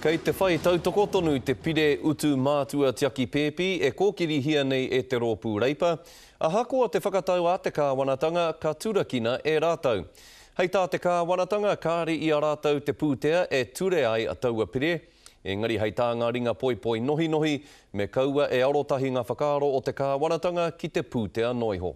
Kei te whai tautoko tonu te Pire Utu Mātua Tiaki Pēpi e kōkirihia nei e te Rōpū Reipa, ahakoa te whakatau a te Kāwanatanga ka turakina e rātou. Hei tā te Kāwanatanga kāre i a rātou te pūtea e ture ai taua Pire, engari hei tā ngā ringa poipoi nohinohi, me kaua e arotahi ngā whakaaro o te Kāwanatanga ki te pūtea noa iho.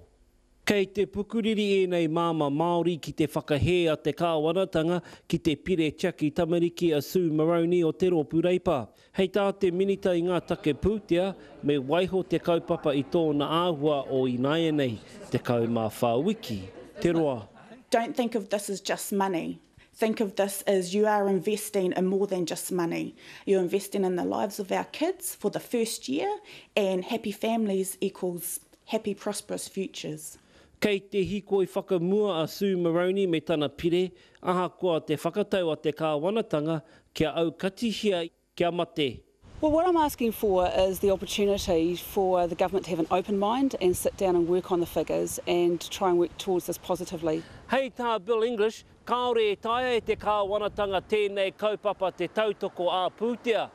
Kei te pukuriri ēnei māmā Māori ki te whakahē a te kāwanatanga ki te Pire Tiaki Tamariki a Sue Moroney o te Rōpū Reipa. Hei tā te Minita i ngā Take Pūtea, me waiho te kaupapa i tōna āhua o ināianei 14 wiki te roa. Don't think of this as just money, think of this as you are investing in more than just money, you're investing in the lives of our kids for the first year and happy families equals Happy prosperous futures. Kei te hikoi whakamua a Sue Moroney me tana pire, ahakoa te whakatau a te Kāwanatanga kia aukatihia kia mate. Well what I'm asking for is the opportunity for the government to have an open mind and sit down and work on the figures and try and work towards this positively. Hei tā Bill English, Kāore e taea e te Kāwanatanga tēnei kaupapa te tautoko ā-pūtea,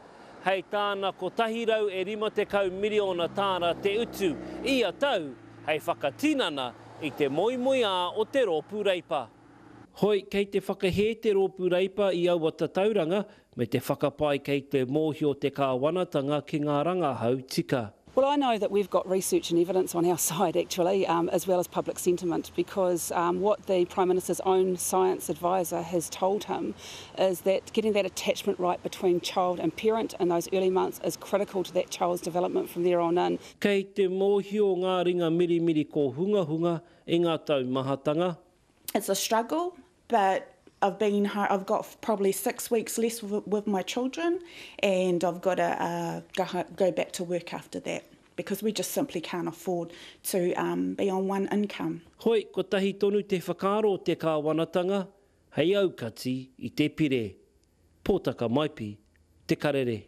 hei tāna 150 miriona tāra te utu ia tau hei whakatinana i te moemoeā o te rōpū Reipa. Hoi, kei te whakahē te rōpū Reipa i aua tatauranga, Me te whakapae kei te mōhio te Kāwanatanga ki ngā rangahau tika. Well I know that we've got research and evidence on our side actually as well as public sentiment because what the Prime Minister's own science adviser has told him is that getting that attachment right between child and parent in those early months is critical to that child's development from there on in. Kei te mōhio ngā ringa mirimiri kōhungahunga i ngā taumahatanga. It's a struggle but I've been home, I've got probably six weeks less with my children and I've got to uh, go back to work after that because we just simply can't afford to um, be on one income. Hoi, kotahi tonu te whakaaro o te kāwanatanga hei aukati i te pire. Pōtaka Maipi, Te Karere.